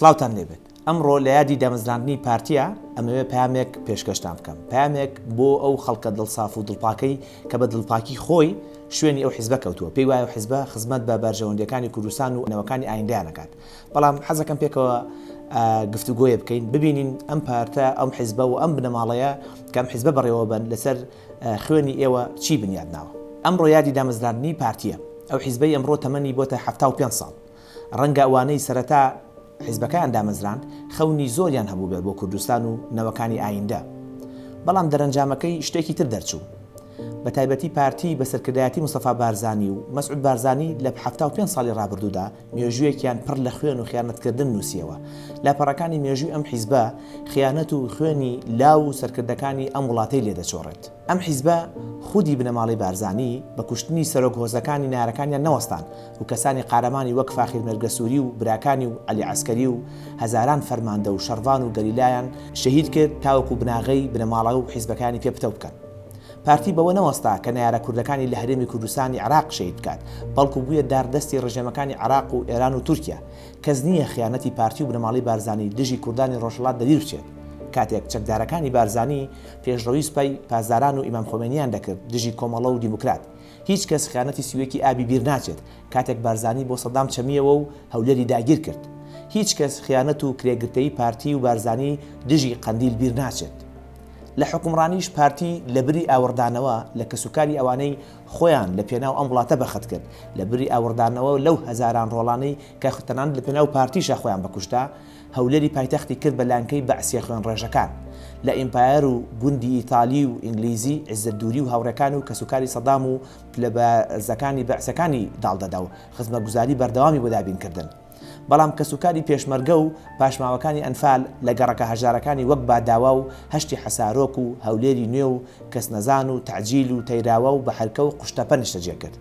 سڵاوتان لێبێت ئەمڕۆ لە یادی دامەزراندنی پارتیە ئەمەوێ پامێک پێشکەشتان بکەم پامێک بۆ ئەو خەڵکە دڵساف و دڵپاکەی کە بە دڵپاکی خۆی شوێنی ئەو حزبە کەوتووە پێی وایە حزبە خزمەت بە بەرژەوەندەکانی کوردستان و نەوەکانی ئایندانەکات بەڵام حەزەکەم پێکەوە گفتوگۆیە بکەین ببینین ئەم پارتە ئەم حیزبە و ئەم بنەماڵەیە کەم حیزبە بەڕێوە بن لەسەر خوێنی ئێوە چی بنیاد ناوە ئەم ڕۆیادی دامەزراندنی پارتیە ئەو حیزبەی ئەمڕۆ تەمەنی بۆ تا حفتا و پێ ساڵ ڕەنگە ئەوانەی سەرەتا حیزبەکان دامەزراند خەونی زۆریان هەبوو بێت بۆ کوردستان و نەوەکانی ئایندە بەڵام دەرەنجامەکەی شتێکی تر دەرچوو بە تایبەتی پارتی بە سەرکردایەتی مستەفا بارزانانی و مەسعود بارزانانی لە حفتا و پێ ساڵی ڕابردوودا مێژوویەکیان پڕ لە خوێن و خیانەتکردن نووسیەوە. لاپەڕەکانی مێژووی ئەم حیزبە خیانەت و خوێنی لاو و سەرکردەکانی ئەم وڵاتەی لێ دەچۆڕێت. ئەم حیزبە خودی بنەماڵەی بارزانی بە کوشتنی سەرۆک هۆزەکانی نارەکانیان نەوەستان و کەسانی قارەمانی وەک فاخیر مێرگەسووری و براکانی و عەلی عەسکەری و هەزاران فەرماندە و شەڕڤان و گەریلایان شەهید کرد تاوەکو بناغەی بنەماڵە و حیزبەکانی پێ پتەو بکەن. پارتی بەوە نەوەستا کە نەیارە کوردەکانی لە هەرێمی کوردستانی عێراق شەهید بکات، بەڵکو بوویە دار دەستی ڕژێمەکانی عێراق و ئێران و تورکیا. کەس نییە خیانەتی پارتی و بنەماڵەی بارزانی دژی کوردانی ڕۆژهەڵات لەبیر بچێت. کاتێک چەکدارەکانی بارزانی پێشڕەوی سپای پاسداران و ئیمام خۆمێنییان دەکرد دژی کۆمەڵە و دیموکرات. هیچ کەس خیانەتی سی و یەک ی ئابی بیر ناچێت کاتێک بارزانی بۆ سەدام چەمییەوە و هەولێری داگیر کرد. هیچ کەس خیانەت و کرێگرتەیی پارتی و بارزانی دژی قەندیل بیر ناچێت. لە حوکمڕانیش پارتی لە بری ئاوڕدانەوە لە کەسوکاری ئەوانەی خۆیان لە پێناو ئەم وڵاتە بەخت کرد، لە بری ئاوڕدانەوە لەو هەزاران ڕۆڵانەی کە تەنانەت لە پێناو پارتیشا خۆیان بە کوشتە هەولێری پایتەختی کرد بە لانکەی بەعسیە خوێنڕێژەکان لە ئیمپایەر و گوندی ئیتالی و ئینگلیزی عزەت دوری و هاوڕێکان و کەسوکاری سەدام و پلە بەرزەکانی بەعسەکانی داڵدەدا و خزمەتگوزاری بەردەوامی بۆ دابین کردن بەڵام کەسوکاری پێشمەرگە و پاشماوەکانی ئەنفال لە گەڕەکە هەژارەکانی وەک باداوا و هەشتی حەسارۆک و هەولێری نوێ و کەسنەزان و تەعجیل و تەیراوە و بەحرکە و قوشتەپە نیشتەجێ کرد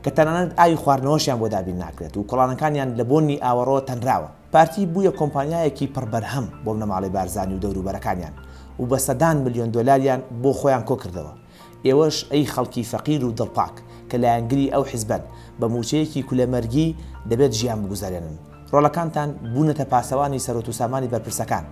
کە تەنانەت ئاوی خواردنەوەشیان بۆ دابین ناکرێت و کۆڵانەکانیان لە بۆنی ئاوەڕۆ تەنراوە. پارتی بوویە کۆمپانیایەکی پڕ بەرهەم بۆ بنەماڵەی بارزانی و دەوروبەرەکانیان و بە سەدان ملیۆن دۆلاریان بۆ خۆیان کۆکردەوە. ئێوەش ئەی خەڵکی فەقیر و دڵپاک کە لایەنگری ئەو حیزبەن، بە مووچەیەکی کولە مەرگی دەبێت ژیان بگوزەرێنن. ڕۆڵەکانتان بوونەتە پاسەوانی سەرۆت و سامانی بەرپرسەکان.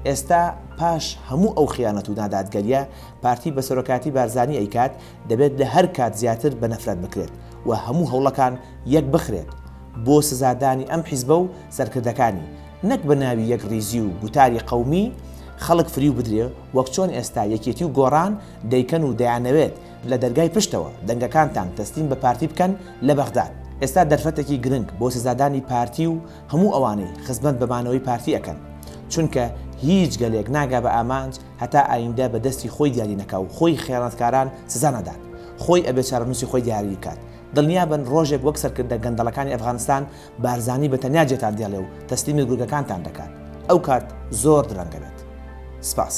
ئێستا پاش هەموو ئەو خیانەت و نادادگەریە پارتی بە سەرۆکایەتی بارزانی ئەیکات، دەبێت لە هەر کات زیاتر بە نەفرەت بکرێت و هەموو هەوڵەکان یەک بخرێت بۆ سزادانی ئەم حیزبە و سەرکردەکانی، نەک بە ناوی یەک ڕیزی و گوتاری قەومی خەڵک فریو بدرێ وەک چۆن ئێستا یەکێتی و گۆڕان دەیکەن و دەیانەوێت لە دەرگای پشتەوە دەنگەکانتان تەسلیم بە پارتی بکەن لە بەغداد ئێستا دەرفەتەکی گرنگ بۆ سزادانی پارتی و هەموو ئەوانەی خزمەت بە مانەوەی پارتی ئەکەن چونکە هیچ گەلێک ناگا بە ئامانج هەتا ئایندە بە دەستی خۆی دیاری نەکا و خۆی خیانەتکاران سزا نەدات خۆی ئەبێ چارەنوسی خۆی دیاری کات دڵنیا بن ڕۆژێک وەک سەرکردە گەندەڵەکانی ئەفغانستان بارزانی بە تەنیا جێتان دێڵێ و تەسلیمی گورگەکانتان دەکات ئەو کات زۆر درەنگ دەبێت. سپاس.